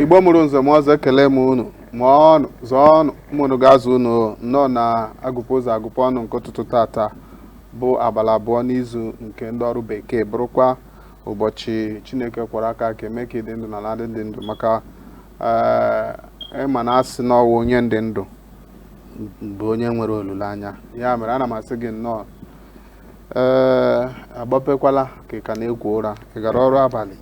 igbo mụrụ nze mụọ ọzọ ekele m unu mụọnụ zụọnụ ụmụ unu ga-azụ unu nnọọ na agụpụ ụzọ agụpụ ọnụ nke ụtụtụ tata bụ abalị abụọ n'izu nke ndị ọrụ bekee bụrụkwa ụbọchị chineke kwọrọ aka kee mee ka ị dị ndụ n'ala ndị dị ndụ maka eh, ị ma na a sị na ọ wụ onye dị ndụ bụ onye nwere olileanya ya mere ana m asị gị nnọọ ee agbapekwala ka ị ka na-ekwo ụra ị gara ọrụ abalị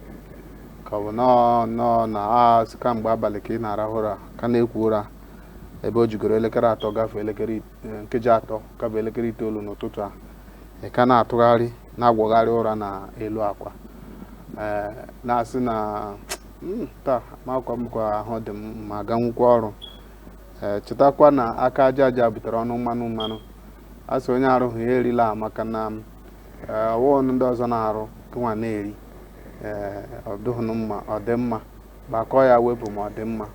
ka ọ bụ nọọ nọọ na a sị kamgbe abalị ka ị na-arahụ ụra ka na-ekwo ụra ebe o jigoro elekere atọ gafee elekere it- eh, nkeji atọ gafee elekere itoolu n'ụtụtụ a ị ka na-atụgharị na-agwọgharị ụra na elu akwa ee na-asị na "Mm, taa amakwa m ka ahụ dị m ma aganwukwa ọrụ ee chetakwa na aka aja aja butere ọnụ mmanụ mmanụ a sị onye arụghị ya erila maka na eh, ọ wụọ ndị ọzọ na-arụ gịnwa na-eri eh, ọ dịghị mma ọ dị mma gbakọọ ya wepụ ma ọ dị mma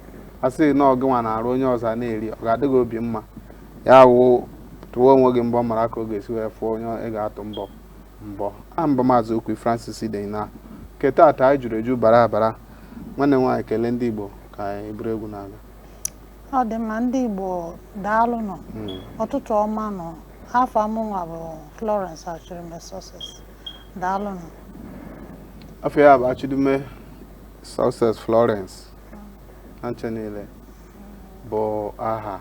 a sị na ọ gịnwa na-arụ onye ọzọ na-eri ọ ga-adị gị obi mma ya wụ tụwa onwe gị mbọ mara ka ọ ga-esi wee fụọ onye ị ga-atụ mbọ mbọ a m bụ maazị okwu francis ide na nke taata anyị juru eju bara abara nwanne nwaanyị kelee ndị igbo ka anyị buru egwu na-aga ọ dị mma ndị Igbo daalụnụ ụtụtụ ọma nụ afa mụnwa bụ Florence Achịrịme Success daalụnụ afa ya bụ Achịrịme Success Florence ha ncha niile bụ aha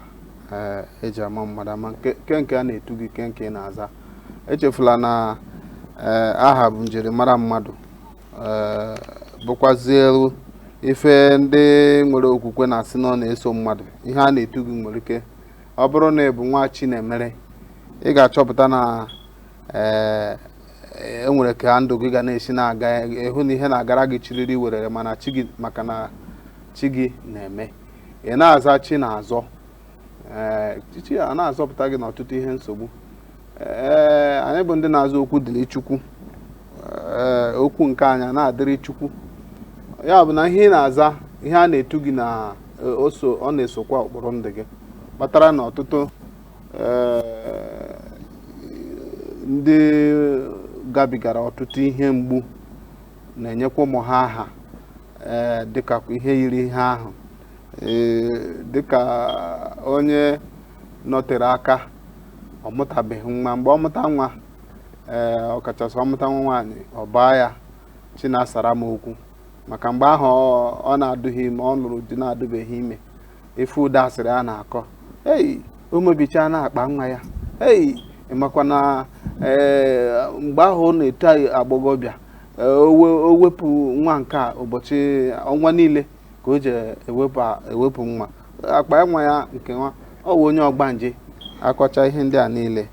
eh, eji ama mmadụ ama nke nke a na-etu gị nke nke ị na-aza echefula na eh, aha bụ njirimara mmadụ eh, bụkwazịlụ ife ndị nwere okwukwe na-asị na ọ na-eso mmadụ ihe a na-etu gị nwere ike ọ bụrụ na ị bụ Nwachinemere ị ga-achọpụta na ee eh, e nwere ka ndụ gị ga na-esi na-aga ị hụ na ihe na-agara gị chiriri werere mana chi gị maka na chi gị na-eme ị na-aza Chinazọ ee eh, chi ana-azọpụta gị n'ọtụtụ ihe nsogbu ee anyị bụ ndị na-aza Okwudịrịchukwu ee okwu nke anyị na-adịrị chukwu ya bụ na ihe ị na-aza ihe a na-etu gị na e, oso ọ na-esokwa ụkpụrụ ndụ gị kpatara na ọtụtụ ee, ndị gabigara ọtụtụ ihe mgbu na-enyekwa ụmụ ha aha ee dịka ihe yiri ihe ahụ ee dịka onye nọtere aka ọ mụtabeghị nwa mgbe ọ mụta nwa ee eh, ọkachasị ọ mụta nwa nwaanyị ọ baa ya Chinasaramokwu maka mgbe ahụ ọ na-adụghị ime ọ lụrụ di na-adụbeghị ime ị fụ ụdị asịrị a na-akọ ei o mebichaana akpa nwa ya ei ị makwa na eh, mgbe ahụ ọ na-eto agbọghọbịa eh, o wepụ nwa nke a ụbọchị ọnwa niile ka o ji ewepụ ewepụ nwa akpa nwa ya nke nwa ọ wụ onye ọgbanje akọcha ihe ndị a niile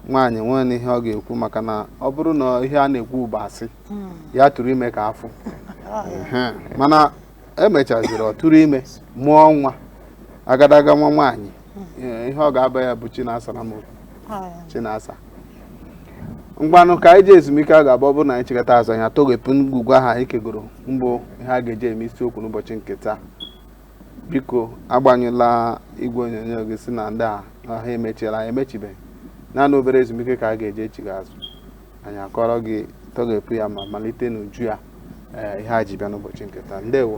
nwaanyị nwee na ihe ọ ga-ekwu maka na ọ bụrụ na ihe a na-ekwu bụ asị ya tụrụ ime ka a fụ Ehe. mana emechaziri ọ tụrụ ime mụọ nwa agadaga nwa nwaanyị Ee, ihe ọ ga-aba ya bụ chinasaram chinasa ngwanụ ka anyị jee ezumike ọ ga-abụ ọ bụrụ na anyị chighata azụ anyị atọghepụ ngwugwu ahụ anyị kegoro mbụ ihe a ga-eji eme isiokwu n'ụbọchị nke taa biko agbanyụla igwe onyonyo gị sị na ndị a na ha emechiela anyị emechibeghị naanị obere ezumike ka a ga-eji echigha azụ anyị akọrọ gị tọghepụ ya ma malite n'uju ya ee ihe a ji bịa n'ụbọchị nke taa ndewo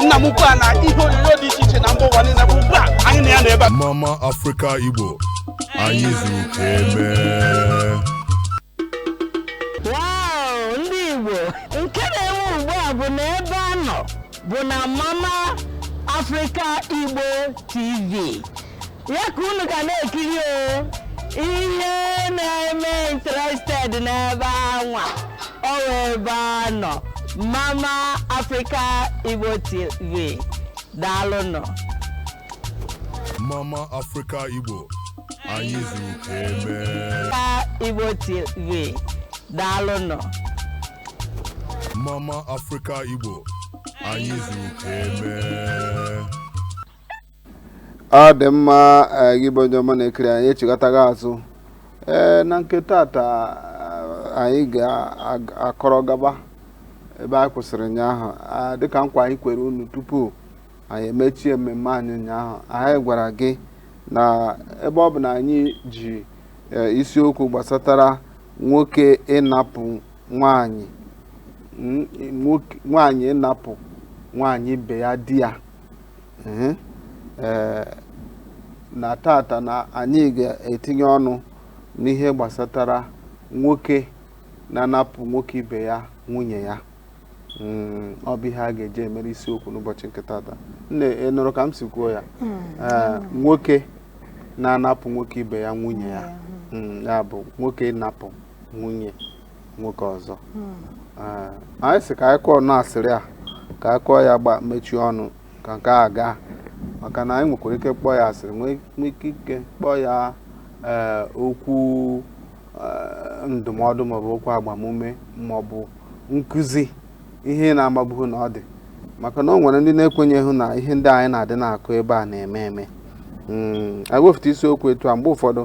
nna m ukwu a na ihe onyonyo dị iche iche na mba ụwa niile bụ ugbu a anyị na ya na ebe a mama afrịka igbo anyị zuru ka eme Wow, ndị Igbo nke na-enwe ugbu a bụ na ebe a nọ bụ na Mama Africa Igbo TV ya ka unu ga na-ekiri o ihe na-eme interested n'ebe anwa ọ wụ ebe a nọ mama africa igbo tv daalụnụ Mama Africa Igbo anyị zuru ka eme Africa igbo tv daalụnụ Mama Africa Igbo anyị zuru ka eme ọ dị mma eh, gị bụ onye ọma na-ekiri anyị echighatago azụ ee na nke tata eh, anyị ga-akọrọ gaba ebe anyị kwụsịrị ụnyaahụ Ah, dịka nkwa anyị kwere unu tupu anyị emechie mmemme anyị ụnyaahụ anyị gwara gị na ebe ọ bụ na anyị ji eh, isiokwu gbasatara nwoke ịnapụ nwanyị mm, nwoke- nwanyị ịnapụ nwanyị ibe ya di ya Ee, ee, na tata na anyị ga-etinye ọnụ n'ihe gbasatara nwoke na-anapụ nwoke ibe ya nwunye ya Mm, ọ bụ ihe a ga-eji emere isiokwu n'ụbọchị nke tata nne ị nụrụ ka m si kwuo ya Ee, nwoke na-anapụ nwoke ibe ya nwunye ya Mm, ya bụ nwoke ịnapụ nwunye nwoke ọzọ hmm. eh, anyị sị ka anyị kụọ na asịrị a ka anyị kụọ ya gba mechie ọnụ ka nke a gaa maka na anyị nwekwara ike kpọọ ya asịrị nwee ike kpọọ ya eh, okwu eh, ndụmọdụ maọbụ okwu agbamume maọbụ nkụzi ihe na-amabughị na ọ dị maka na o nwere ndị na-ekwenyeghị na ihe ndị anyị na-adị na-akụ ebe a na-eme eme hmm, anyị wefụta isiokwu etu a mgbe ụfọdụ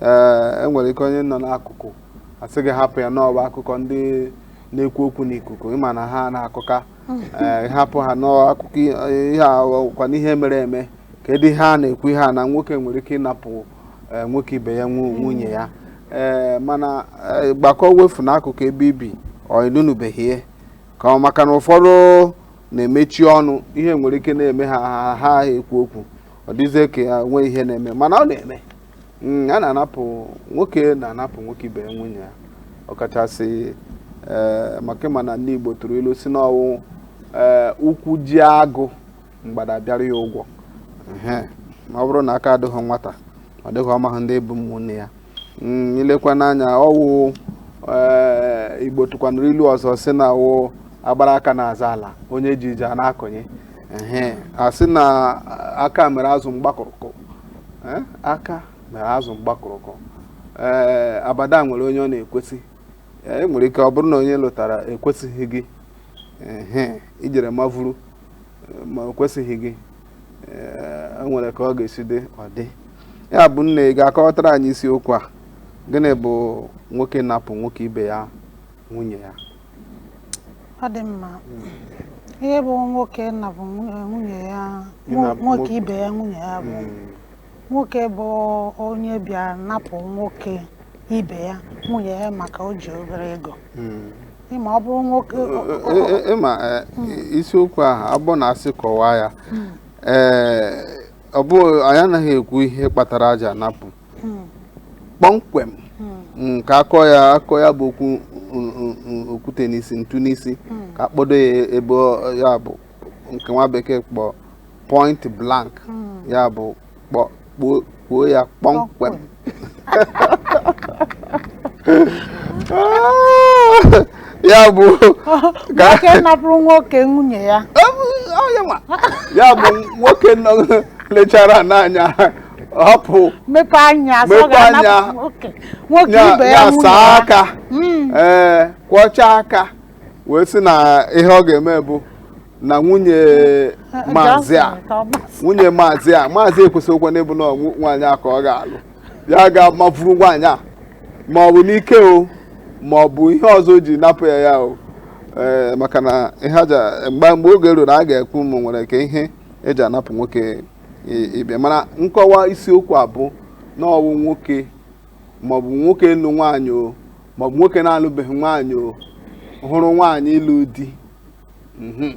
ee eh, e nwere ike onye nọ n'akụkụ asị gị hapụ ya na ọ wụ akụkọ ndị na-ekwu okwu n'ikuku ị ma na ha na-akụka eh, hapụ ha n'akụkọ ihe akwa n'ihe mere eme kedu ihe a na-ekwu ihe a na nwoke nwere ike ịnapụ eh, nwoke ibe ya nwunye ya ee eh, mana gbakọ wefu n'akụkụ ebe i bi ọ ị nụnụbeghị ya ka ọ maka na ụfọdụ na-emechi ọnụ ihe nwere ike na-eme ha ha ekwu okwu ọ dịzie ka ya nwee ihe na-eme mana ọ na-eme Mm, a na-anapụ nwoke na-anapụ nwoke ibe ya nwunye ya ọkachasị ee maka ị ma na ndị Igbo tụrụ ilu sị na ọ wụ ee ụkwụ jie agụ mgbada abịara ya ụgwọ Ehe, ma ọ bụrụ na aka adịghị nwata ọ dị ka ọ mahụ ndị bụ ụmụnne ya Mm, i lekwanụ anya ọ wụ ee Igbo tụkwanụrụ ilu ọzọ sị na ọ wụ a gbara aka na-azọ ala onye ji ji ana-akọnye Ehe, a sị na aka mere azụ mgbakụrụkọ eh, aka mere azụ mgbakụrụkọ ee eh, abada nwere onye ọ na-ekwesị eh, e nwere ike ọ bụrụ na onye ị lụtara ekwesịghị gị i jere ma vuru ma o kwesịghị gị e nwere ka ọ ga-esi dị ọ dị ya bụ nne ị ga-akọwatara anyị isiokwu a gịnị bụ nwoke napụ nwoke ibe ya nwunye ya ọ dị mma ihe bụ nwoke napụ nwunye ya nwoke ibe ya nwunye ya bụ hmm. nwoke bụ onye bịa napụ nwoke ibe ya nwunye ya maka o ji obere ego hmm. ị ma ọ bụrụ nwoke ị ma e, e, e, isiokwu ahụ abụ na a sị kọwaa ya hmm. ee ọ bụ anyị anaghị ekwu ihe kpatara a ja-anapụ kpọmkwem mm, ka a kọọ ya akọ ya bụ okwu mm, mm, mm, okwute n'isi ntu n'isi ka a kpọdo ya ebe ọ- ya bụ nke nwa bekee kpọ point blank ya bụ kpọ kpọọ kpọọ ya kpọmkwem ya bụ ka nwoke napụrụ nwoke nwunye ya Ọ bụ- ọ ya nwa. ya bụ nwoke nọ lechara n'anya hapụ mepe anya nwoke ibe ya saa aka Mm. ee kwọchaa aka wee sị na ihe ọ ga-eme bụ na nwunye maazị nwunye maazị a maazị ekwesịghịkwa n'ịbụ na ọwụ nwaanyị a ka ọ ga-alụ ya ga-amafuru nwaanyị a ma ọ bụ n'ike o ma ọ bụ ihe ọzọ o ji napụ ya ya o ee maka na ihe eji mgbe mgbe oge ruru a ga-ekwu ụmụ nwere ka ihe eji anapụ nwoke ibe mana nkọwa isiokwu a bụ na ọwụ nwoke maọbụ nwoke lụ nwaanyị o maọbụ nwoke na-alụbeghị nwaanyị o hụrụ nwaanyị lụ di mhm.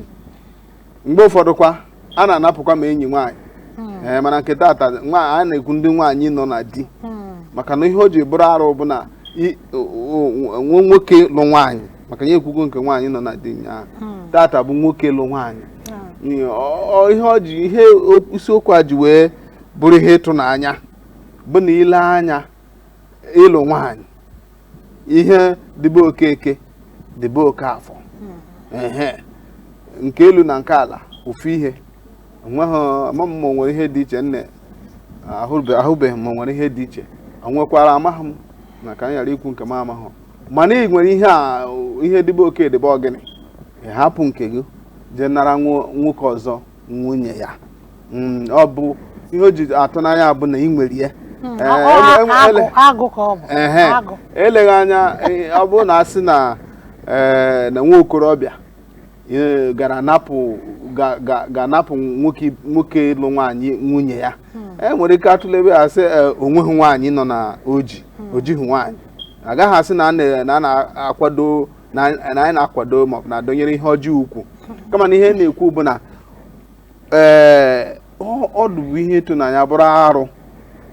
mgbe ụfọdụkwa a na-anapụkwa ma enyi nwaanyị hmm. ee eh, mana nke taata a na-ekwu ndị nwaanyị nọ na di hmm. maka na ihe o ji bụrụ arụ bụ na nwoke lụ nwaanyị maka anyị ekwugo nke nwaanyị nọ na di nya hmm. tata bụ nwoke lụ nwaanyị hmm. ihe ọ ji ihe isiokwu a ji wee bụrụ ihe ịtụnanya bụ na i lee anya ị lụ nwaanyị ihe dị be Okeke dị be Okafọ hmm. nke elu na nke ala ofu ihe enweghị ama m ma e nwere ihe dị iche nne ahụbeghị m ma e nwere ihe dị iche onwekwara amaghị m ma ka m ghara ikwu nke m amaghị mana ị nwere ihe a ihe dị be oke dị be ọgịnị hapụ nke gị jee nara nwoke ọzọ nwunye ya mm, ọ bụ ihe o ji atụ n'anya bụ na ị nwere ya hmm, eleghị anya ọ bụrụ na a sị na eh, nwa okorobịa e, gara gaa napụ nwoke lụ nwaanyị nwunye ya hmm. e nwere ike atụlebe ya sị e, onweghị nwaanyị nọ na oji hmm. ojighị nwaanyị agaghị asị na a na-akwado na anyị na-akwado maọbụ na-adọnyere ihe ọjọọ ukwu hmm. kama na ihe na-ekwu bụ na ee ọdụ bụ ihe ịtụnanya bụrụ arụ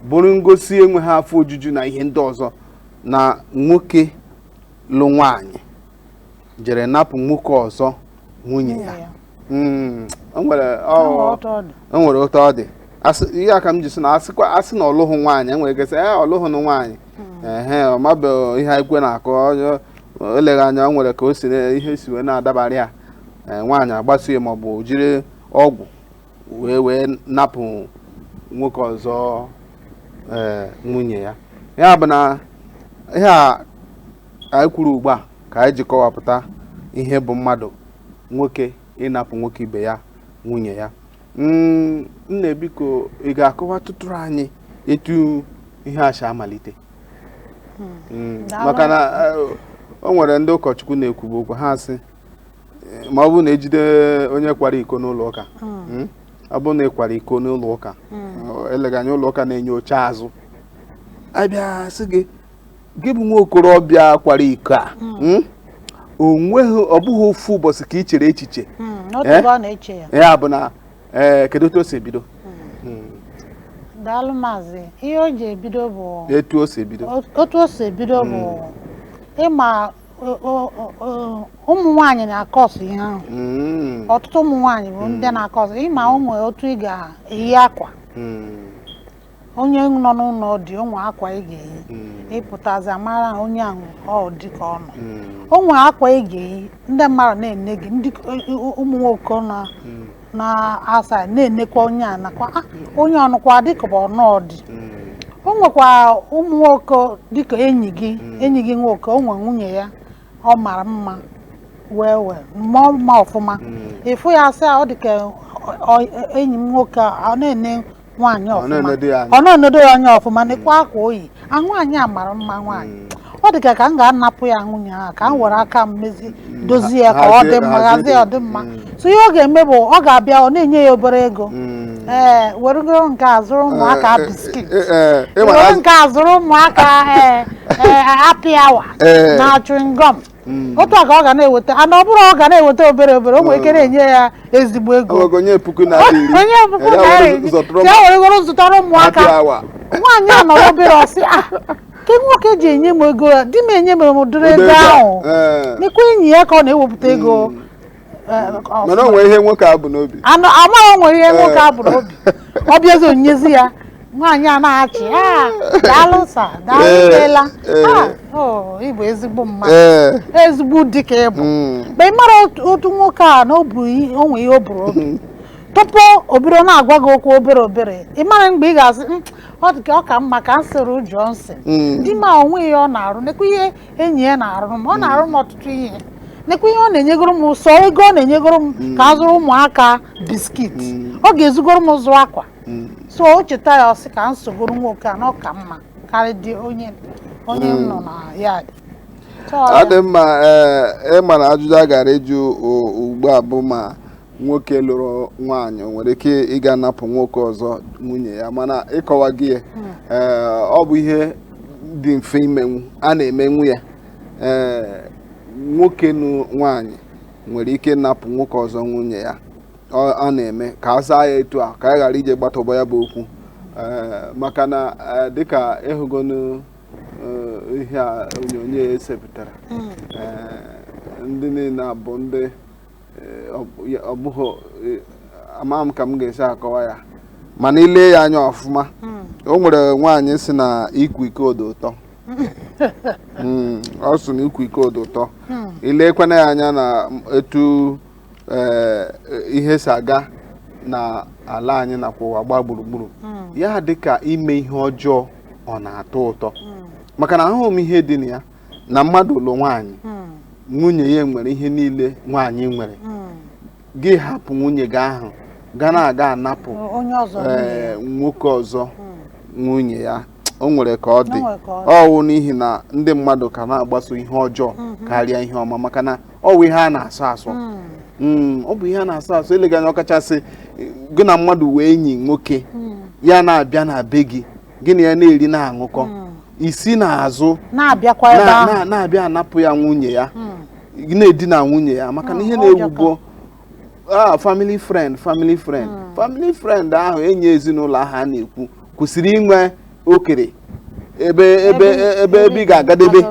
bụrụ ngosi enweghị afọ ojuju na ihe ndị ọzọ na nwoke lụ nwaanyị jere napụ nwoke ọzọ nwunye ya hmm, o nwere otu ọ dị ihe a ka m ji sị na a sị na ọlụhụ nwaanyị enwere ike sị ee ọlụhụ na nwaanyị hmm. ehe ọ mabeghị ihe ekwe na-akụ eleghị anya o nwere ka o si ihe si wee na-adabara ya e, nwaanyị agbaso ya maọbụ jiri ọgwụ wee wee napụ nwoke ọzọ e, nwunye ya ya bụ na ihe a ka anyị kwuru ugbu a ka anyị ji kọwapụta ihe bụ mmadụ nwoke ịnapụ nwoke ibe ya nwunye ya mm, nna biko ị ga-akọwatụtụrụ anyị etu ihe a si amalite hmm. mm, maka na eh, o nwere ndị ụkọchukwu na-ekwubu okwu ha sị eh, ma ọ bụrụ na e jide onye kwara iko n'ụlọ ụka hmm. Hmm, ọ bụrụ na ị kwara iko n'ụlọ ụka eleghị anya ụlọ ụka na-enye oche azụ a bịa sị gị gị bụ nwa okorobịa kwara iko a hmm. Hmm? o nweghị ọ bụghị ofu ụbọchị ka ị chere echiche hmm, eh? ya bụ na eh, kedu otu o si ebido daalụ maazị ihe o ji ebido bụ etu o si ebido otu o si ebido bụ ị ma ụmụ nwaanyị na-akọsụ ihe ahụ ọtụtụ ụmụ nwaanyị bụ ndị na-akọsụ ị ma ụmụ otu ị ga-eyi akwa onye nọ n'ụlọ di o nwe akwa ị ga-eyi hmm. ị pụtazi a mara onye ahụ ọ dị ka ọ nọ hmm. o nwe akwa ị ga-eyi ndị mmadụ na-ene gị ndị ụmụ nwoke na hmm. na-asị nenekwa onye a nakwa ah, onye ọ nọkwa di ka bụ ọ nọọ di o nwekwa ụmụ nwoke dịka enyi gị enyi gị nwoke o nwe nwunye ya ọ mara mma wee wee mụọ mma ọfụma ị fụ ya sị ọ dịka enyi m nwoke ọ na-ene nwaanyị Ọ ọfụma na-enedo ya anya. ọ na-enedo ya anya ọfụma nekwa akwa o yi a nwaanyị a mara mma nwaanyị ọ dị ka ka m ga-anapụ ya nwunye ahụ ka m were aka m mezi dozie ya ka ọ dị mma hazie- hazie ọ dị mma Mm. so ihe ọ ga-eme bụ ọ ga-abịa ọ na-enye ya obere ego Mm. ee werugoro nke a zụrụ ụmụaka Eh, eh, biskit eh, eh, ị ma na were azụ- nke a zụrụ ụmụaka ee ee happy hour Eh. na chewing gum Mm. otu a ka ọ ga na-eweta ana ọ bụrụ ọ ga na-eweta obere obere o nwere ike na-enye ya ezigbo ego Ọgọgọ nye puku naira iri. o nye puku Ya naira were iri zụtụrụ ya weregoro zụtara happy ụmụaka hour. nwaanyị a nọrọ obere ọ sị a kee nwoke ji enye m ego a di m enye m ụdịrị ego Ụdị ego a. ahụ Ee. nekwa enyi ya ka ọ na-ewepụta ego mana o nwere ihe nwoke a bu n'obi amaghị o nwere ihe nwoke a bu n'obi ọ bịazi o nyezi ya nwaanyị a na-achị "Ah, daalụ sir daalụ Ee, imeela ee. Ah, oh, ị bụ ezigbo mmadụ ee ezigbo di ka ị bụ mm, mgbe ị mara otu- otu nwoke a na o bu ihe- o nwee ihe o bu n'obi tupu o bido na-agwa gị okwu obere obere ị mara mgbe ị ga-asị "Mm, ọ dị ka ọ ka mma ka m soro Johnson mm. di m a o nwe ihe ọ na-arụ nekwa ihe enyi ya na-arụrụ m ọ na-arụrụ m ọtụtụ ihe nekwa ihe ọ na-enyegoro m sọ ego ọ na-enyegoro m mm. ka m zụrụ ụmụaka biskit mm. ọ ga-ezugoro m zụọ akwa mm. so o cheta ya ọ sị ka m sogoro nwoke a na ọ ka mma karịa di onye onye m nọ na ya di ọ dị mma ee eh, ị ma na ajụjụ a gara ịjụ ugbu a bụ ma nwoke lụrụ nwaanyị o nwere ike ịga napụ nwoke ọzọ nwunye ya mana ịkọwa gị ya hmm. eh, ọ bụ ihe dị mfe imenwu a na-emenwu ya ee eh, nwoke nụ nwaanyị nwere ike napụ nwoke ọzọ nwunye ya a na-eme ka a zaa ya etu a ka a ghara ije gbatọba ya bụ okwu eh, maka na dịka ịhụgonu ihe a onyonyo e sepụtara hmm. ndị niile a bụ ndị ọ bụghị e, ama m ka m ga-esi akọwa ya mana i lee ya anya ọfụma hmm. o nwere nwaanyị sị na ịkwa iko dị ụtọ hmm, ọ sị na ịkwa iko dị ụtọ hmm. i lekwana ya anya na etu e, ihe si aga na ala anyị nakwa ụwa gbaa gburugburu ya dịka ime ihe ọjọọ ọ na-atọ ụtọ maka na ahụghị m ihe dị na ya na mmadụ lụọ nwaanyị hmm. nwunye ya nwere ihe niile nwaanyị nwere hmm. gị hapụ nwunye gị ahụ ga na-aga anapụ eh, nwoke ọzọ hmm. nwunye ya o nwere ka ọ dị ọ wụ n'ihi na ndị mmadụ ka na-agbaso ihe ọjọọ mhm. karịa ihe ọma maka na ọ wụ ihe a na-asọ asọ hmm. Hmm, ọ bụ ihe a na-asọ asọ eleghị anya ọkachasị gị na mmadụ wụ enyi nwoke hmm. ya na-abịa na be gị gị na ya na-eri na-aṅụkọ hmm. i si n'azụ na-abịa anapụ ya nwunye ya hmm. na-edina nwunye ya maka na ihe na-ewu ugbu a family friend family friend family friend ahụ enyi ezinụlọ ahụ a na-ekwu kwesịrị inwe okere ebe ebe ebe ebe ị ga-agadebe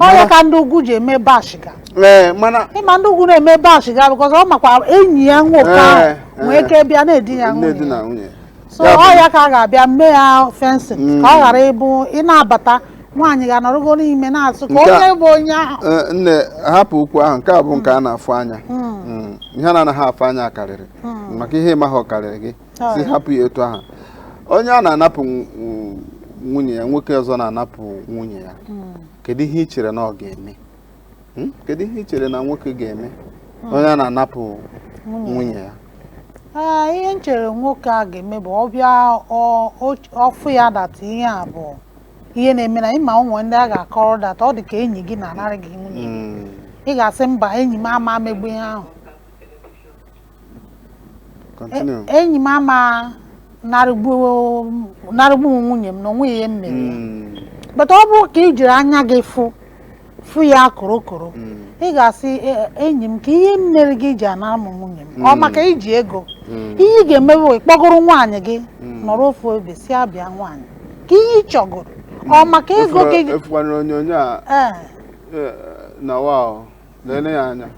ọ ya ka ndị ugwu ji eme ba shiga ee mana ị ma ndị ugwu na-eme ba shiga because ọ makwa enyi ya nwoke Ee, ahụ nwee ee. ike bịa na-edi ya na-edina nwunye so Ya bụ- ọ ya ka a ga-abịa mee ya fence ka ọ ghara ịbụ ị na-abata nwaanyị ga-anọrọgo n'ime na-asị ka Nke a- onye bụ onye ahụ Ee, nne hapụ okwu ahụ nke a bụ nke a na-afụ anya Mm, ihe a na-anaghị afụ anya karịrị maka ihe ị maghị ọ karịrị gị sị hapụ ya etu ahụ onye a na-anapụ nwunye ya nwoke ọzọ na-anapụ nwunye ya hmm. kedu ihe ị chere na ọ ga-eme hmm? kedu ihe ị chere na nwoke ga-eme hmm. onye a na-anapụ nwunye ya ah, ihe m chere nwoke a ga-eme bụ ọ bịa ọ fụ ya that ihe a bụ ihe na-eme na ị ma o nwe ndị a ga-akọrọ that ọ dị ka enyi gị na-anara gị nwunye ị ga-asị mba enyi m ama megbu ihe ahụ Continue. E- enyi m ama narịgbu m nwunye m na o nwe ihe m mere ya Mm, but ọ bụrụ ka i jiri anya gị fụ fụ ya korokoro mm, ị ga-asị "E- enyi m ka ihe m mere gị i ji anara m nwunye m ọ maka i ji ego mm, ihe ị ga-eme bụ ị kpọgoro nwaanyị gị Mm. nọrọ ofu ebe sị ya bịa nwaanyị ka ihe ị chọgoro ọ maka ego Ị fụkwa- gị ị fụkwana onyonyo a ee eh, na wa o. lele ya anya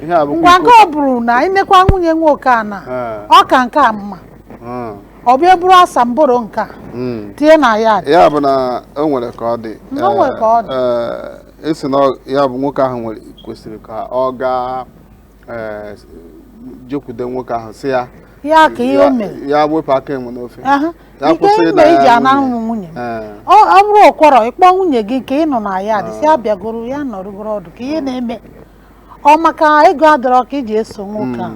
ihe a bụkwa ngwa nke iko ọ bụrụ na i nekwa nwunye nwoke a na Ee. ọ ka nke a mma Mm, ọ bịa bụrụ asamboro nke a mm. tinye na ya ya bụ na o nwere ka ọ dị Na o nwere ka ọ dị. Ee, esi na ọ- ya bụ nwoke ahụ nwere kwesịrị ka ọ gaa ee, jekwude nwoke ahụ sị ya ya ka ihe o mere ya wepụ aka enwe n'ofe Aha. Ya Nke kwụsị ịna mgbe ya iji anara nwunye. mụ nwunye m Ee. ọ ọ bụrụ ụkwọrọ ịkpọ nwunye gị nke ị nọ na ya dị si abịagoro ya nọrụgoro ọdụ ka ihe na-eme ọ maka ego adọrọ ka iji eso nwoke a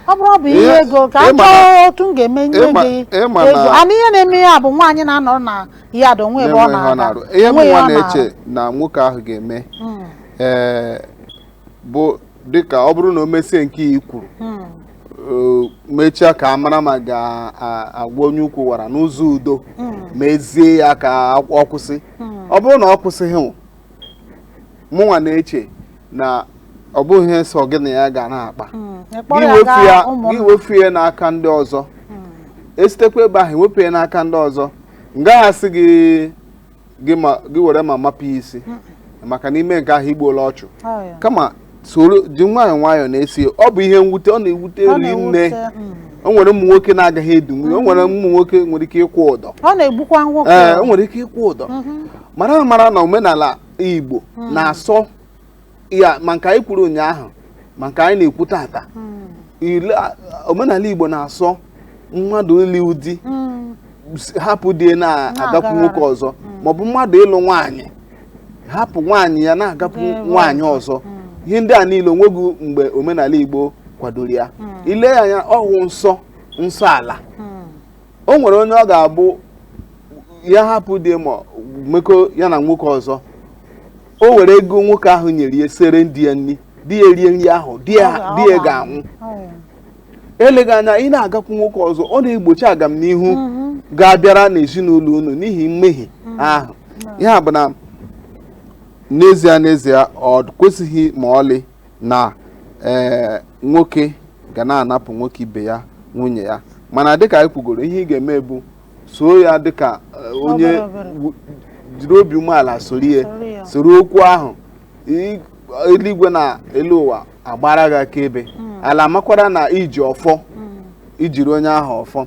ọ bụrụ ọ bụ ihe Ihe- ego ka a ịma na- chọọ otu m ga-eme nye ịma- gị ịma na- ego ana ihe na-eme ya bụ nwaanyị na-anọrọ na ya dị onwe ebe ọ na-enweghị ọ na-aga na-arụ ihe onwe ya mụnwa ọ na-arụ. na-eche na nwoke ahụ ga-eme Mm, ee bụ dịka ọ bụrụ na o mesie nke i kwuru mm. mechaa ka a mara ma ga-agwa onye ukwu wara n'ụzọ udo hmm. mezie ya ka ọ kwụsị hmm. ọ bụrụ na ọ kwụsịghị mụnwa na-eche na ọ bụghị ihe sọ gị na ya ga na-akpa hmm. gị wefu ya n'aka ndị ọzọ esitekwa ebe ahụ ewepụ ya n'aka ndị ọzọ m gaghị asị gị gị ma- gị were mma mapụ ya isi maka na i mee nke ahụ i gbuola ọchụ Ọ ya. kama soro ji nwayọọ nwayọọ na-eso ya. ọ bụ ihe mwute ọ na-ewute Ọ rinne na-ewute, mm. o nwere ụmụ nwoke na-agaghị edinwu ya o nwere ụmụ nwoke nwere ike ịkwụ ụdọ ọ na-egbukwa nwoke ee o nwere ike ịkwụ ụdọ mara amara na omenala igbo na-asọ ya ma nke anyị kwuru ụnyaahụ ma nke anyị na-ekwu tata ile a- omenala igbo na-asọ mmadụ ịlụ di Mm. s- hapụ di ya na-agakwu Na-agagharị. nwoke ọzọ maọbụ mmadụ ịlụ nwaanyị hapụ nwaanyị ya na-agakwu Ga-enwe nwaanyị ọzọ ihe ndị a niile o nweghị mgbe omenala igbo kwadoro ya i lee ya anya ọ wụ nsọ nsọ ala Mm. o nwere onye ọ ga-abụ ya hapụ di ya ma mekọ ya na nwoke ọzọ o were ego nwoke ahụ nyere ya siere di ya nri di ya erie nri ahụ di ya ga-anwụ eleghị anya ị na-agakwu nwoke ọzọ ọ na-egbochi agamnihu mhm. ga-abịara n'ezinụlọ unu n'ihi mmehie mhm. ahụ ya bụ na n'ezie n'ezie o kwesịghị ma ọlị na ee eh, nwoke ga na-anapụ nwoke ibe ya nwunye ya mana dịka anyị kwugoro ihe ị ga-eme bụ soo ya dịka eh, onye jiri obi umeala soro ya soro okwu ahụ eluigwe na elu ụwa agbara gị akaebe hmm. ala makwara na i ji ọfọ hmm. i jiri onye ahụ ọfọ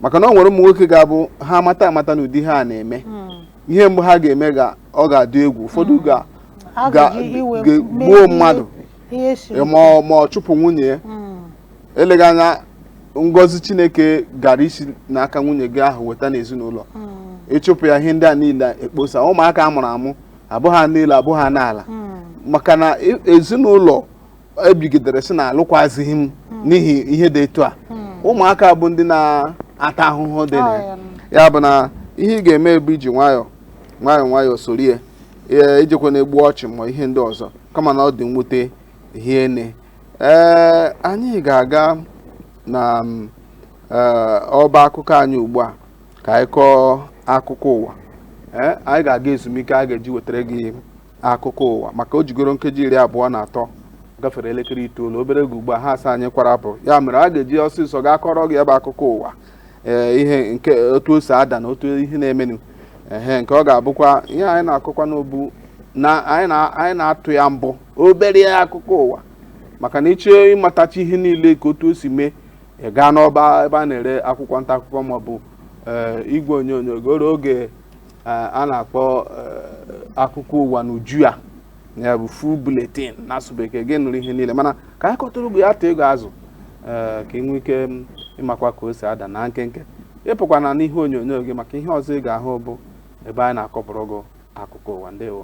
maka na o nwere ụmụ nwoke ga-abụ ha mata amata na ụdị ihe a na-eme hmm. ihe mgbe ha ga-eme ga ọ ga-adị egwu ụfọdụ mm. ga gbuo mmadụ ma ọ chụpụ nwunye ya mm. eleghị anya ngọzi chineke gara isi n'aka nwunye gị ahụ weta n'ezinụlọ mm. ị chụpụ ya ihe ndị a niile ekposa ụmụaka a mụrụ amụ abụ ha niile abụ ha n'ala maka na e, ezinụlọ e bigidere sị na alụkwazighị m n'ihi ihe dị etu a ụmụaka bụ ndị na-ata ahụhụ dị na ya ya bụ na ihe ị ga-eme bụ iji nwayọọ nwayọọ nwayọọ sorie ee ijekwa na-egbu ọchị ma ihe ndị ọzọ kama na ọ dị mwute hie nne ee anyị ga-aga na mm, ee, ọba akụkọ anyị ugbu a ka anyị kọọ akụkọ ụwa ee anyị ga-aga ezumike a ga-eji wetara gị akụkọ ụwa maka o jigoro nkeji iri abụọ na atọ gafere elekere itoolu obere oge ugbu a ha asị anyị kwara pụ ya mere a ga-eji ọsịsọ gaa kọọrọ gị ebe akụkọ ụwa ee ihe nke otu o si ada na otu ihe na-emenụ ehe nke ọ ga-abụkwa ihe anyị na-akọkwa n'obu na anyị na-atụ ya mbọ obere akụkọ ụwa maka na ị chọọ ịmatacha ihe niile ka otu o si mee ị gaa n'ọba ebe a na-ere akwụkwọ nta akụkọ maọbụ eh, igwe onyonyo goro oge Eh, a na-akpọ eh, akụkọ ụwa n'uju ya ya bụ full bulletin n'asụ bekee gị nụrụ ihe niile mana ka anyị kọtụrụ ugbo ya atụ ego azụ eh, ka ị nwee ike mm, ịmakwa ka o si ada na nkenke ị pụkwana n'ihe onyonyo gị maka ihe ọzọ ị ga-ahụ bụ ebe anyị na-akọpụrụ gị akụkọ ụwa ndewo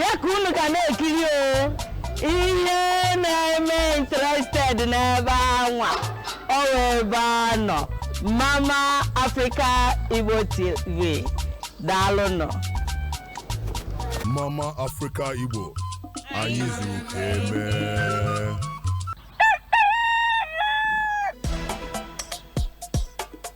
ya ka unu ga na-ekiri o ihe na-eme interested n'ebe anwa ọ wụ ebe a nọ mama africa igbo tv daalụnụ Mama Africa Igbo anyị zuru ka e mee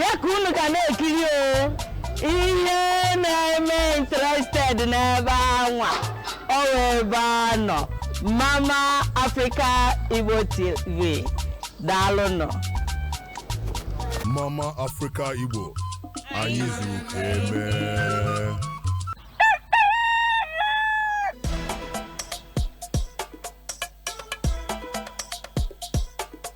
ya ka unu ga na-ekiri o ihe na-eme interested n'ebe anwa ọ wụ ebe a nọ mama africa igbo tv daalụnụ Mama Africa Igbo anyị zuru ka e mee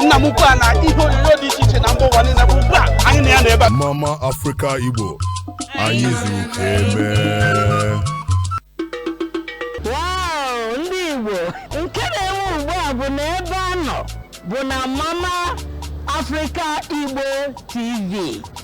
nna m ukwu a na ihe onyonyo dị iche iche na mba ụwa niile bụ ugbu a anyị na ya nọ ebe a mama afrịka igbo anyị zuru ka e mee Wow, ndị Igbo nke na-enwe ugbu a bụ na ebe a nọ bụ na Mama Africa Igbo TV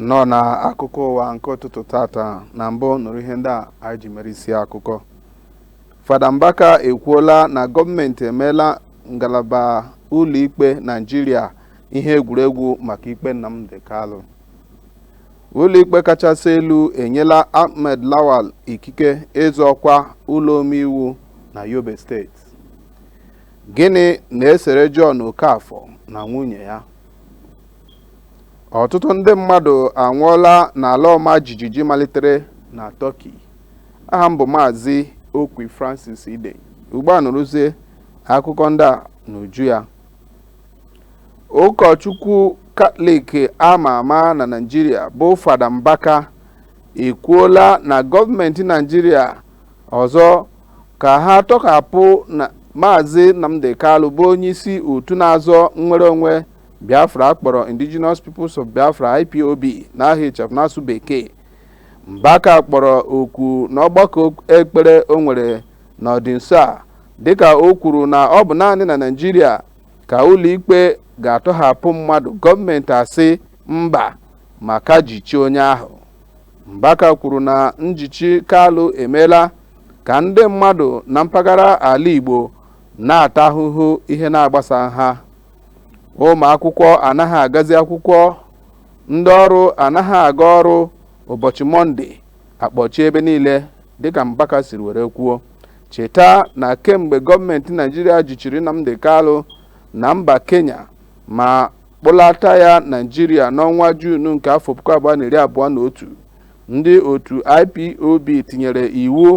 nnọọ na akụkọ ụwa nke ụtụtụ tata na mbụ nụrụ ihe ndị a anyị ji mere isi akụkọ fada mbaka ekwuola na gọọmenti emeela ngalaba ụlọikpe naijiria ihe egwuregwu maka ikpe nnamdi kalu ụlọikpe kachasị elu enyela ahmed lawal ikike ịzọ ọkwa ụlọ omeiwu na yobe steeti gịnị na-esere john okafọ na nwunye ya ọtụtụ ndị mmadụ anwụọla n'ala ọma jijiji malitere na tọki aha m bụ maazị okwi francis ide ugbu a nụrụzie akụkọ ndị a n'uju ya ụkọchukwu katọlik ama ama na naijiria bụ fada mbaka ekwuola na gọọmenti naijiria ọzọ ka ha tọhapụ Maazị Nnamdi Kalu bụ onyeisi otu na-azọ nnwere onwe Biafra a kpọrọ Indigenous Peoples of Biafra IPOB n'aha ịchafụ n'asụ bekee Mbaka kpọrọ oku n'ọgbakọ ekpere o nwere n'ọdịnso a dịka o kwuru na ọ bụ naanị na Naịjirịa ka ụlọikpe ga-atọhapụ mmadụ gọọmenti asị mba ma ka jichie onye ahụ Mbaka kwuru na njichi Kalụ emeela ka ndị mmadụ na mpaghara ala Igbo na-ata ahụhụ ihe na-agbasaghị ha ụmụ akwụkwọ anaghị agazi akwụkwọ ndị ọrụ anaghị aga ọrụ ụbọchị mọnde a kpọchie ebe niile dịka Mbaka siri were kwuo cheta na kemgbe gọọmenti Naijiria jichiri Nnamdi Kalụ na mba Kenya ma kpụlata ya Naịjirịa n'ọnwa Juun nke afọ puku abụọ na iri abụọ na otu ndị otu IPOB tinyere iwu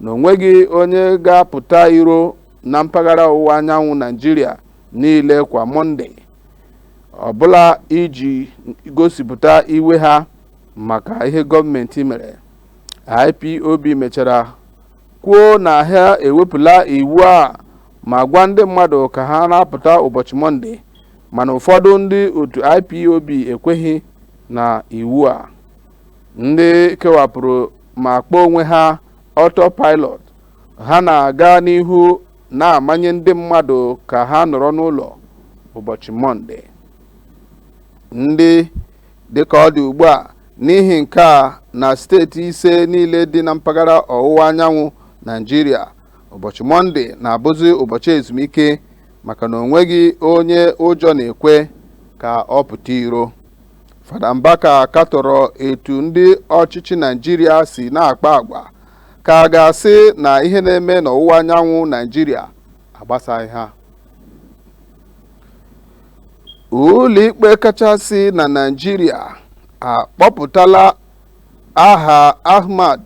na o nweghị onye ga-apụta iro na mpaghara ọwụwa anyanwụ Naịjirịa niile kwa Mọnde ọbụla iji gosipụta iwe ha maka ihe gọọmenti mere IPOB mechara kwuo na ha ewepụla iwu a ma gwa ndị mmadụ ka ha na-apụta ụbọchị Mọnde mana ụfọdụ ndị otu ipob ekweghị na iwu a ndị kewapụrụ ma kpọọ onwe ha autopilot ha na-aga n'ihu na-amanye ndị mmadụ ka ha nọrọ n'ụlọ ụbọchị mọnde ndị dịka ọ dị ugbu a n'ihi nke a na steeti ise niile dị na mpaghara ọwụwa anyanwụ naijiria ụbọchị mọnde na-abụzi ụbọchị ezumike maka na onweghị onye ụjọ na-ekwe ka ọ pụta iro Fada Mbaka katọrọ etu ndị ọchịchị Naijiria si na-akpa agwa ka a ga-asị na ihe na-eme n'ọwụwa anyanwụ Naijiria agbasaghị ha ụlọikpe kachasị na Naijiria akpọpụtala aha Ahmad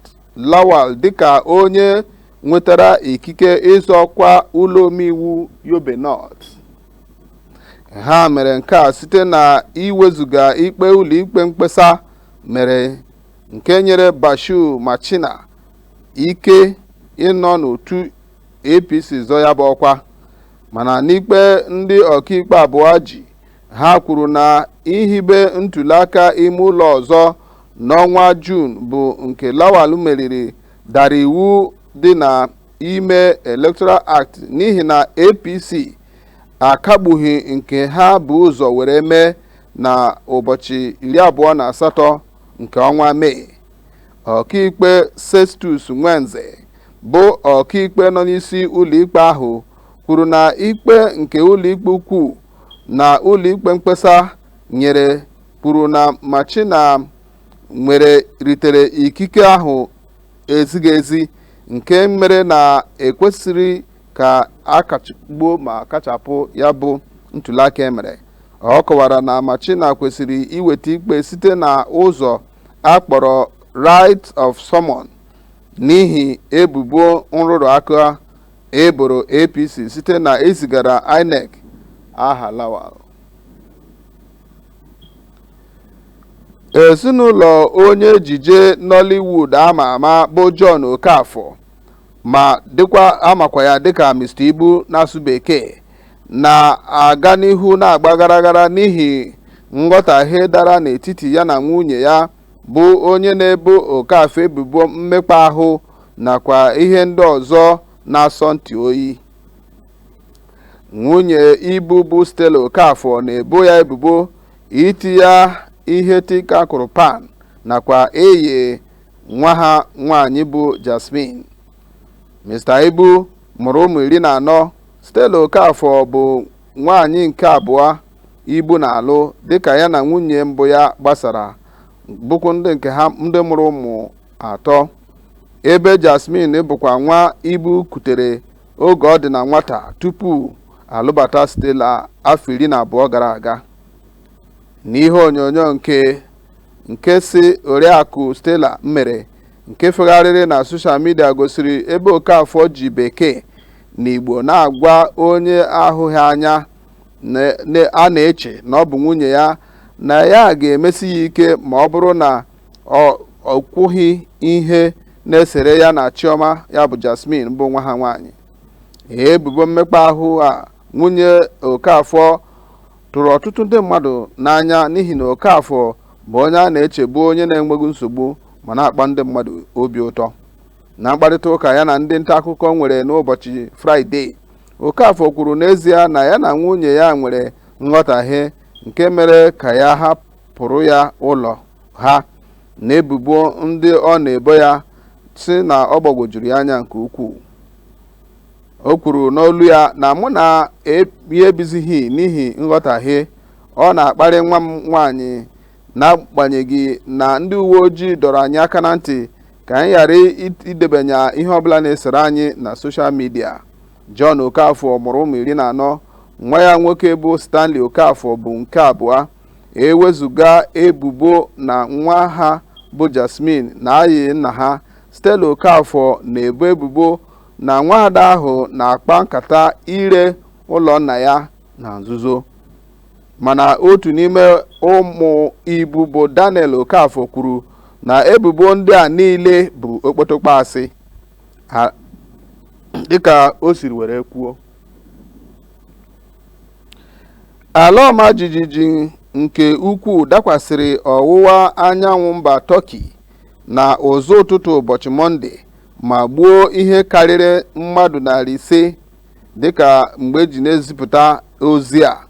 Lawal dịka onye nwetara ikike ịzọ ọkwa ụlọ omeiwu Yobe North ha mere nke a site na iwezuga ikpe ụlọikpe mkpesa mere nke nyere Bashir Machina ike ịnọ n'otu APC zọ ya bụ ọkwa mana n'ikpe ndị ọkaikpe abụọ ji ha kwuru na ihibe ntuliaka ime ụlọ ọzọ n'ọnwa Juun bụ nke Lawal meriri dara iwu dị na ime Electoral Act n'ihi na APC akagbughị nke ha bu ụzọ were mee na ụbọchị iri abụọ na asatọ nke ọnwa Mee ọkaikpe Sestus Nwenze bụ ọkaikpe nọ n'isi ụlọikpe ahụ kwuru na ikpe nke ụlọikpe ukwu na ụlọikpe mkpesa nyere kwuru na Machina nwere ritere ikike ahụ ezighị ezi nke mere na ekwesịrị ka a kachagbuo ma kachapụ ya bụ ntuliaka e mere ọ kọwara na Machina kwesịrị iweta ikpe site na ụzọ a kpọrọ writ of summon n'ihi ebubo nrụrụ aka e boro APC site na ezigara INEC aha Lawal ezinụlọ onye ejije Nollywood a ma ama bụ John Okafor ma a makwa ya dịka Mr Ibu n'asụ Bekee na-aga n'ihu na-agba ghara ghara n'ihi nghọtahie dara n'etiti ya na nwunye ya bụ onye na-ebo Okafor ebubo mmekpa ahụ nakwa ihe ndị ọzọ na-asọ ntị oyi nwunye Ibu bụ Stella Okafor na-ebo ya ebubo iti ya ihe tinka kụrụ pan nakwa eye nwa ha nwaanyị bụ Jasmine Mr Ibu mụrụ ụmụ iri na anọ Stella Okafor bụ nwaanyị nke abụọ Ibu na-alụ dịka ya na nwunye mbụ ya gbasara bụkwa ndị nke ha ndị mụrụ ụmụ atọ ebe Jasmine bụkwa nwa Ibu kutere oge ọ dị na nwata tupu alụbata Stella afọ iri na abụọ gara aga n'ihe onyonyo nke nke sị Oriakụ Stella mere nke fegharịrị na soshal midia gosiri ebe Okafor ji Bekee na Igbo na-agwa onye ahụghị anya a na-eche na ọ bụ nwunye ya na ya ga-emesi ya ike ma ọ bụrụ na o kwughị ihe na-esere ya na Chioma ya bụ Jasmine bụ nwa ha nwaanyị ebubo mmekpa ahụ a nwunye Okafor tụrụ ọtụtụ ndị mmadụ n'anya n'ihi na Okafor bụ onye a na-echebu onye na-enweghị nsogbu ma na-akpa ndị mmadụ obi ụtọ na mkparịta ụka ya na ndị nta akụkọ nwere n'ụbọchị fraịde Okafor kwuru n'ezie na ya na nwunye ya nwere nghọtahie nke mere ka ya hapụ pụrụ ya ụlọ ha na ebubo ndị ọ na-ebo ya sị na ọ gbagwojuru ya anya nke ukwuu o kwuru n'olu ya na mụ na ya ebizighị n'ihi nghọtahie ọ na-akparị nwa m nwaanyị n'agbanyeghị na ndị uwe ojii dọrọ anyị aka na ntị ka anyị ghara idebanye ihe ọbụla na-esere anyị na soshal midia John Okafor mụrụ ụmụ iri na anọ nwa ya nwoke bụ Stanley Okafor bụ nke abụọ ewezuga ebubo na nwa ha bụ Jasmine na-ayị nna ha Stella Okafor na-ebo ebubo na nwaada ahụ na-akpa nkata ire ụlọ nna ya na nzuzo mana otu n'ime ụmụ Ibu bụ Daniel Okafor kwuru na ebubo ndị a niile bụ okpotokpo asị dịka o siri were kwuo ala ọma jijiji nke ukwuu dakwasịrị ọwụwa anyanwụ mba Turkey na ụzọ ụtụtụ ụbọchị mọnde ma gbuo ihe karịrị mmadụ narị ise dịka mgbe eji na-ezipụta ozi a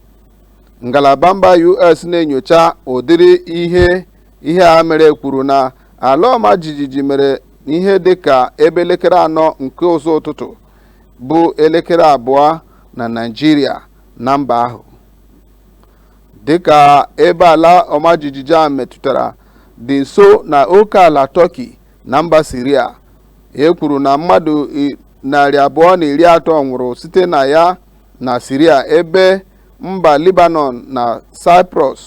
ngalaba mba US na-enyocha ụdịrị ihe ihe a mere kwuru na ala ọma jijiji mere ihe dịka ebe elekere anọ nke ụzọ ụtụtụ bụ elekere abụọ na Naịjirịa na mba ahụ dịka ebe ala ọma jijiji a metụtara dị nso na oke ala Turkey na mba Syria e kwuru na mmadụ narị abụọ na iri atọ nwụrụ site na ya na Syria ebe mba Lebanon na Cyprus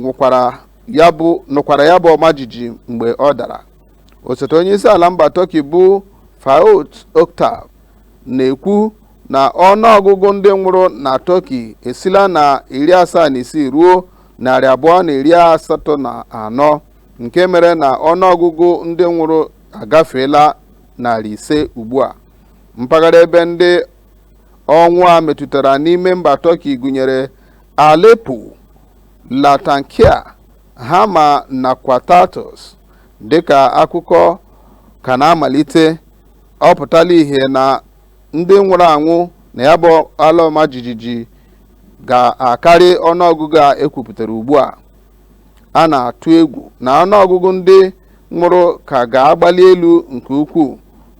nụkwara ya bụ ọma jijiji mgbe ọ dara osote onye isi ala mba Turkey bụ Fuat Oktay na-ekwu na ọnụọgụgụ ndị nwụrụ na Turkey esila na iri asaa na isii ruo narị abụọ na iri asatọ na anọ nke mere na ọnụọgụgụ ndị nwụrụ agafeela narị ise ugbu a mpaghara ebe ndị ọnwụ a metụtara n'ime mba Turkey gụnyere Aleppo Latakia Hama nakwa Tartus dịka akụkọ ka na-amalite ọ pụtala ihe na ndị nwụrụ anwụ na ya bụ ala ọma jijiji ga-akarị ọnụọgụgụ a ekwupụtara ugbu a a na-atụ egwu na ọnụọgụgụ ndị nwụrụ ka ga-agbali elu nke ukwuu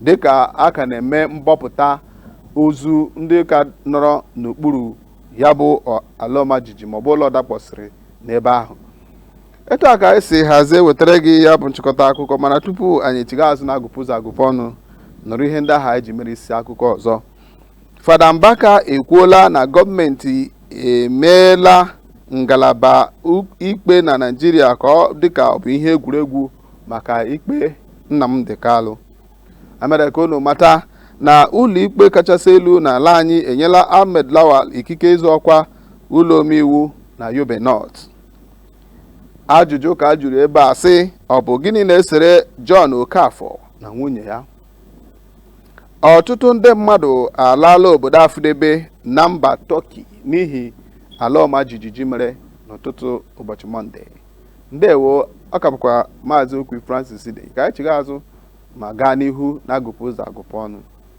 dịka a ka na-eme mbọpụta ozu ndị ka nọrọ n'okpuru ya bụ ala ọma jijiji maọbụ ụlọ dakpọsịrị n'ebe ahụ etu a ka anyị si hazie wetara gị ya bụ nchịkọta akụkọ mana tupu anyị echigha azụ na agụpụ ụzọ agụpụ ọnụ nụrụ ihe ndị ahụ anyị ji mere isi akụkọ ọzọ fada mbaka ekwuola na gọọmenti emeela ngalaba u- ikpe na naijiria ka ọ dịka ọ bụ ihe egwuregwu maka ikpe nnamdi kalụ emere ka unu mata na ụlọikpe kachasị elu n'ala anyị enyela ahmed lawal ikike ịzọ ọkwa ụlọ omeiwu na yobe north ajụjụ ka a jụrụ ebe a sị ọ bụ gịnị na-esere John Okafọ na nwunye ya ọtụtụ ndị mmadụ alaala obodo afụdebe na mba Tọki n'ihi ala ọma jijiji mere n'ụtụtụ ụbọchị Mọnde ndewo ọ ka bụkwa maazị Okwi Francis dị ka anyị chigha azụ ma gaa n'ihu na agụpụ ụzọ agụpụ ọnụ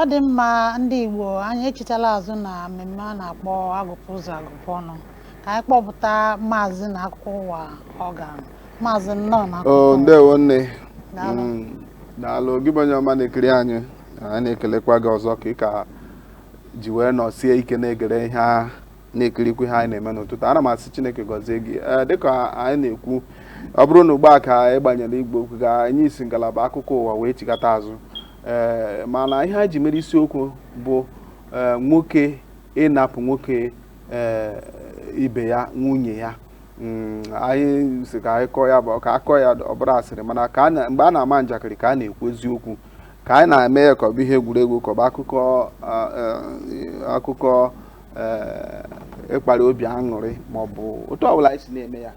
Ọ dị mma ndị Igbo anyị echitala azụ na mmemme a na-akpọ agụpụ ụzọ agụpụ ọnụ ka anyị kpọpụta maazị na akụkọ ụwa ọga maazị nnọọ na akụkọ ụwa. ndewo nne daalụ mm, gị bụ onye ọma na-ekiri anyị anyị na-ekelekwa gị ọzọ ka ị ka ji wee nọsie ike na-egere ihe a na-ekirikwu ihe anyị na-eme n'ụtụtụ a ana m asị chineke gọzie gị ee dịka anyị na-ekwu ọ bụrụ na ugbu a ka ị gbanyere igwe okwu gị anyị si ngalaba akụkọ ụwa wee chighata azụ ee mana ihe anyị ji mere isiokwu bụ ee nwoke ịnapụ nwoke ee ibe ya nwunye ya Mm, anyị sị ka anyị kọọ ya bụ ka a kọọ ya ọ bụrụ asịrị mana ka a na- mgbe a na-ama njakịrị ka a na-ekwu eziokwu ka anyị na-eme ya ka ọ bụ ihe egwuregwu ka ọ bụ akụkọ a- a- akụkọ eh, ịkpara obi aṅụrị ma ọ bụ otu ọbụla anyị si na-eme ya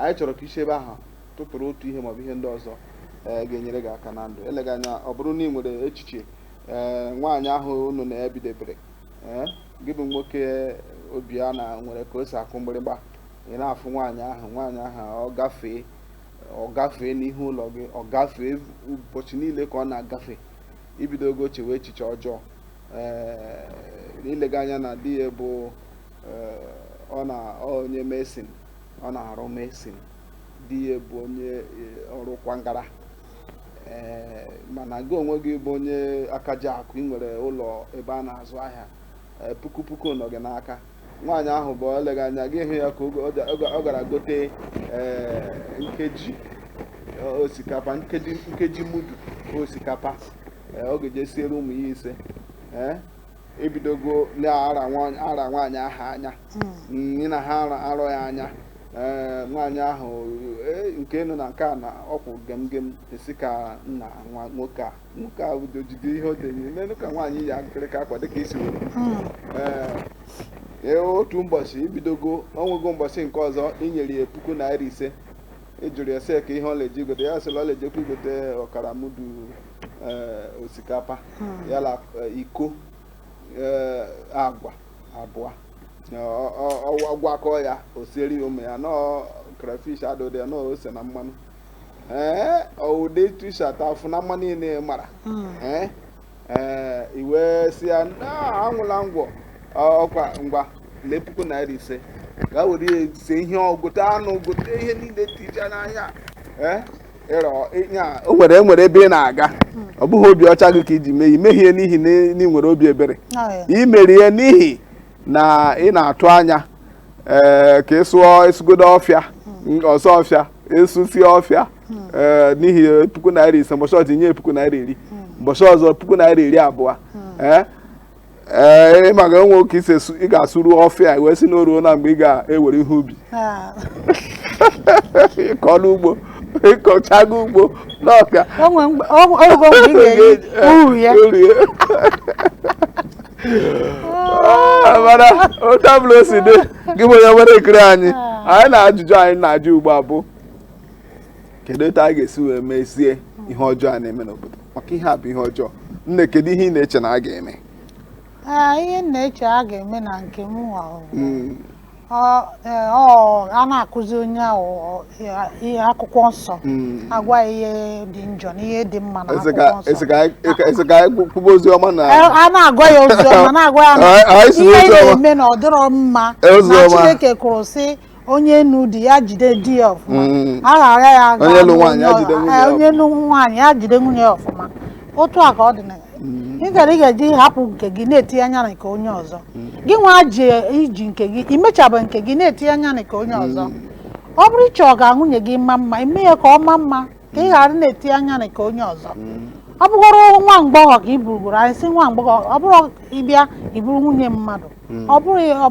anyị chọrọ ka i si ebe ahụ tụtụrụ otu ihe maọbụ ihe ndị ọzọ eh, ga-enyere gị aka na ndụ eleghị anya ọ bụrụ na ị nwere echiche eh, nwaanyị ahụ unu na ya bidebere eh, gị bụ nwoke obi a na nwere ka o si akụ mgbịrịgba ị na-afụ nwaanyị ahụ nwaanyị ahụ ọ gafee ọ gafee n'ihu ụlọ gị ọ gafee ụbọchị niile ka ọ na-agafe i bidogo chewe echiche ọjọọ eh, eleghị anya na di ya bụ eh, ọ na onye mason ọ na-arụ mason di ya bụ onye eh, ọrụ kwangara mana gị onwe gị bụ onye aka ji akụ ị nwere ụlọ ebe a na-azụ ahịa puku puku nọ gị n'aka nwaanyị ahụ bụ eleghị anya gị hụ ya ka oge- oge- oge ọ gara gote ee, nkeji e, osikapa nkeji nkeji mudu osikapa e, ọ ga-eje siere ụmụ ya ise ee i bidogo na-ara nwa- ara nwaanyị ahụ anya nne na ha ara- arọ ya anya ee nwaanyị ahụ e, nke nọ na nke a na ọkwụ gemgem ị sị ka nna nwa nwoke a nke a udo jide ihe o denye n'elu ka nwaanyị ya nkịrịka akwa dịka isi were Ee, ee, otu ụbọchị i bidogo o nwego ụbọchị nke ọzọ i nyere ya puku naira ise ị jụrụ ya sị kee ihe ọ le-eje igote ya sị la ọ le-ejekwa igote ọkara mudu ee, osikapa ya na eh, iko ee, agwa abụọ Ọ- ọ- ọ- ọ gwakọọ ya o siere ya ụmụ ya nọọ crayfish adụdị ya nọọ ose na mmanụ ee ọ wụ ụdị T-shirt afụ na mma niile ị mara Mm. ee ee i wee sị ya "Na, anwụla ngwọ Ọ- ọkwa ngwa lee puku naira ise gaa were ya sie ihe o gote anụ gote ihe niile tija n'ahịa ee ịrọ ịnya o nwere e nwere ebe ị na-aga ọ bụghị obi ọcha gị ka i ji mee ya i mehị ya n'ihi na ị nwere obi ebere Ọ ya. i mere ya n'ihi na ị na-atụ anya ee eh, ka ị sụọ ị sụgodo ọfịa hmm. ọ sụọ ọfịa ị sụsịa ọfịa hmm. ee eh, n'ihi puku naira ise mbọchị ọzọ nye puku naira iri mbọchị ọzọ puku naira iri abụọ ee eh, ee ị maga enwe oke ise ị ga-asụru ọfịa wee sị na o ruola mgbe ị ga-ewere ihe ubi ah. ịkọ n'ugbo ịkọchago ugbo n'ọka uru ya Ah, mana otu ọbụla o si dị gị bụ onye na-ekiri anyị anyị na ajụjụ anyị na-ajụ ugbu a bụ kedu otu a ga-esi wee mezie ihe ọjọọ a na-eme n'obodo maka ihe a bụ ihe ọjọọ nne kedu ihe ị na-eche na a ga-eme Ah, ihe m na-eche a ga-eme na nke m nwa o. Mm, e, a na-akụzi onye ahụ ihe akwụkwọ nsọ hmm. a gwa ya ihe dị njọ na ihe dị mma na akwụkwọ nsọ e, a na-agwa ya ozi ọma na-agwa ya ihe ọ na-eme na ọ dịrọ mma na Chineke kwuru sị onye nụ di ya jide di ya ọfụma mm. a ghara ya onye nụ nwaanyị ya jide nwunye ya ọfụma otu a ka ọ dị na mm. ị gara ị ga-eji hapụ nke gị na-etinye anya na nke onye ọzọ mm. gị nwa ji iji nke gị imechabụ nke gị na-etinye anya na nke onye ọzọ mm. ọ bụrụ ị chọọ ka nwunye gị maa mma i mee ya ka ọ maa mma ka ị ghara na-etinye anya na nke onye ọzọ ọ bụgoro nwa agbọghọ ka i buru buru anyị sị nwa agbọghọ ọ bụrụ ị bịa i buru nwunye mmadụ ọ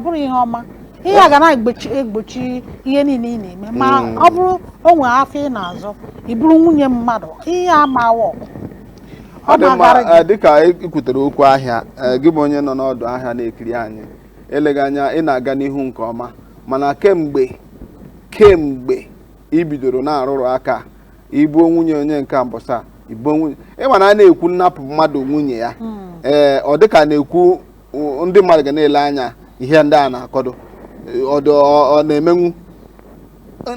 bụrụ ihe ọma ihe a ga na-egbochi ihe niile ị na-eme ma hmm. ọ bụrụ o nwe afịa ị na-azụ i buru nwunye mmadụ ihe ama work ọ dị mma eh, dịka ikwutere okwu ahịa eh, gị bụ onye nọ n'ọdụ ahịa na-ekiri anyị eleghị anya ị na-aga n'ihu nke ọma mana kemgbe kemgbe ibidoro na-arụrụ aka i buo nwunye onye nke a mbọsị a i buo nwunye ịma na a na-ekwu nnapụ mmadụ nwunye ya hmm. ee eh, ọ dịka a na-ekwu ndị mmadụ ga na-ele anya ihe ndị a na-akọdu ọ na-emenwu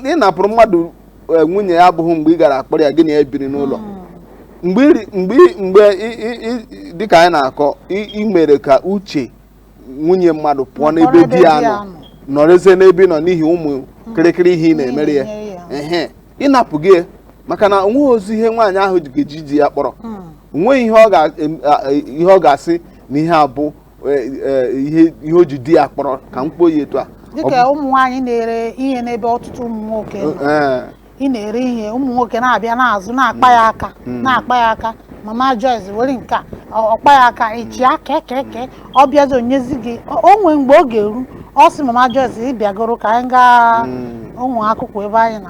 ị napụrụ mmadụ eh, nwunye ya abụghị mgbe ị gara akpọrọ ya gị na ya biri n'ụlọ mgbe iri- mgbe i- mgbe i- i- i- dịka anyị na-akọ i- i mere ka uche nwunye mmadụ pụọ Pụọ n'ebe di ya nọ nọrọzie n'ebe ị nọ n'ihi ụmụ kịrịkịrị ihe ị na-emere ya na-enye ya. ehe ị napụgo ya, maka na onweghịzi ihe nwaanyị ahụ ji- ga-eji di ya kpọrọ onweghị ihe ọ ga- em- a- a- ihe ọ ga-asị na ihe a bụ e, e, ihe ihe o ji di ya kpọrọ ka m kpọọ ya etu a Ọ dịka ụmụ nwaanyị na-ere ihe n'ebe ọtụtụ ụmụ nwoke nọ. bụ- ee, ị na-ere ihe ụmụ nwoke na-abịa n'azụ na-akpa ya aka na-akpa ya aka mama Joyce were nke a ọ- ọ kpa ya aka ị chịa kekeke ọ bịazi o nyezi gị o o nwee mgbe ọ ga-eru ọ sị mama Joyce ị bịagoro ka anyị gaa ụmụ akwụkwọ ebe anyị na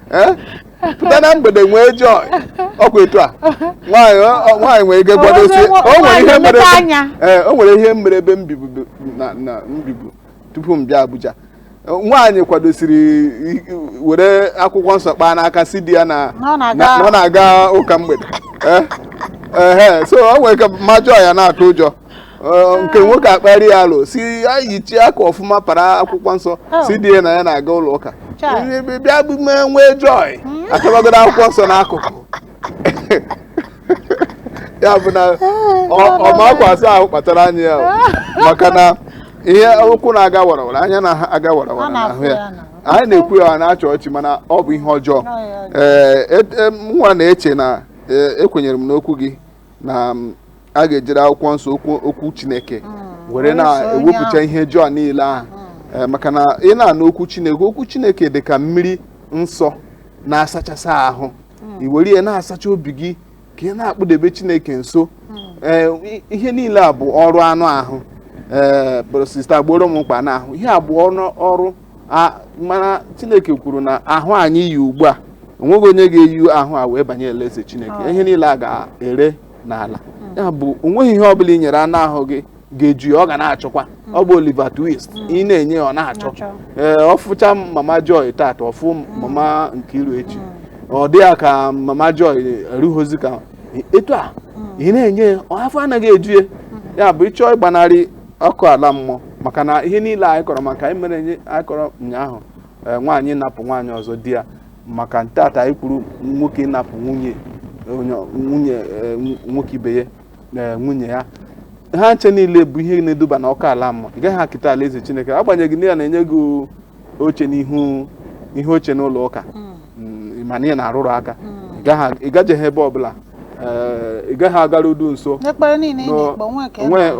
Eh? pụta na mgbede nwee joy ọkwa etu a nwaanyị ọ- ọ- nwaanyị nwere ike kwadosi Nwa- o nwere ihe nwaanyị mere mepee anya. ee o nwere ihe mere ebe m bibu bụ- na na m bibu tupu m bịa Abuja nwaanyị kwadosiri i- i- were akwụkwọ nsọ kpaa n'aka sị di ya na Na ọ na- na-aga- na ọ na-aga ụka mgbede Eh? Ehe, so o nwere ike ma joy ya na-atụ ụjọ Ọ, nke nwoke akparị ya alo sị ya yichie akwa ọfụma para akwụkwọ nsọ Oh. sị di ya na ya na-aga ụlọ ụka Chai. Bịa- bịa- bịa bụ mee nwee joy atụbagodo akwụkwọ nsọ n'akụkụ ya bụ na ọ- ọ ma akwa asa ahụ kpachara anya ya o. maka na ihe ụkwụ na-aga warawara anya na-aga Ọ warawara na-afụ na-ahụ ya ya na- anyị na-ekwu ya a na-achị ọchị mana ọ bụ ihe ọjọọ Ọ ihe ọjọọ. ee et- em, nwa na-eche na ee, ekwenyere m n'okwu gị na a ga-ejiri akwụkwọ nsọ okwu Chineke mm. were na-ewepụcha ihe ọjọọ niile ahụ mm. eh, maka na ị na-anụ okwu Chineke okwu Chineke dị ka mmiri nsọ na-asachasị ahụ mm. i were ya na-asacha obi gị ka ị na-akpụdebe Chineke nso eh, ihe niile a bụ ọrụ anụ ahụ ee eh, sista gboro m mkpa n'ahụ ihe a bụ ọrụ mana chineke kwuru na ahụ anyị yi ugbu a onweghị onye ga-eyi ahụ a wee banye alaeze chineke oh. ihe niile a ga-ere n'ala hmm. ya bụ onweghị ihe ọbụla i nyere anụ ahụ gị ga-eju ya ọ ga na-achọkwa hmm. ọ bụ Oliver Twist hmm. ị na-enye ọ na-achọ ee eh, ọ fụcha mama Joy tata ọ fụ mama Nkiru echi ọ dị ya ka mama Joy erughịzi ka etu a ị na-enye afọ anaghị eju ya ya bụ ị chọọ ịgbanarị ọkụ ala mmụọ maka na ihe niile anyị kọrọ maka anyị mere anyị kọrọ ụnyaahụ eh, nwaanyị napụ nwaanyị ọzọ di ya maka ntata anyị kwuru nwoke napụ nwunye nwunye eh, nwoke ibe ya eh, nwunye ya ha ncha niile bụ ihe na-eduba na ọkụ ala mmụọ ị gaghị eketa alaeze chineke agbanyeghị na ya na-enye gị oche n'ihu ihe oche n'ụlọ ụka hmm. mm, mana ị na-arụrụ aka hmm. ị gajeghị ebe ọbụla eh, ị gaghị agarudu nso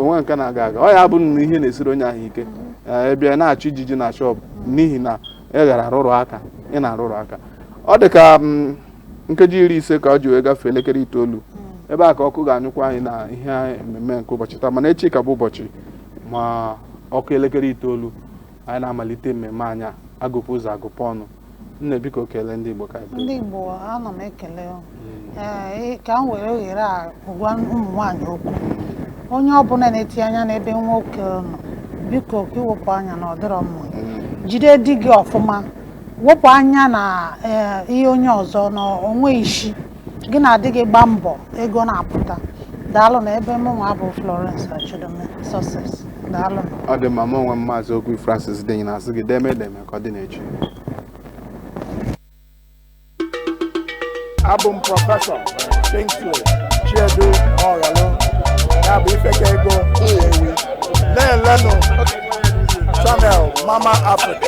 onwe nke na-aga aga ọ ya bụ na ihe na-esiri onye ahụ ike hmm. eh, ebe na-achụ ijiji na shọpụ n'ihi na ị gara arụrụ aka ị na-arụrụ aka ọ dị ka mm, nkeji iri ise ka o ji wee gafee elekere itoolu ebe a ka ọkụ ga-anyụkwa anyị na ihe mmemme nke ụbọchị taa mana echi ka bụ ụbọchị ma ọ kụọ elekere itoolu anyị na-amalite mmemme anyị a, agụpụ ụzọ agụpụ ọnụ nne biko kelee ndị Igbo ka anyị ndị Igbo ana m ekele unu. Ee, ị- ka m were ohere a gwa ụmụ nwaanyị okwu onye ọbụla na-etinye anya n'ebe nwoke nọ biko ka i wepụ anya na ọ dịrọ mma jide di gị ọfụma wepụ anya na ee, ihe onye ọzọ na onweghị isi gị na di gị gba mbọ ego na-apụta daalụ na ebe mụnwa bụ Florence Achidome Success daalụ ọ dị mma mụ onwe m maazị Ogwu Francis Denyi na-asị gị deme edeme ka ọ dị n'echi abụ m prọfesọ Kingsley Chiedu Mọghalụ ya bụ Ifekaego Nnewi na-elenụ channel Mama Africa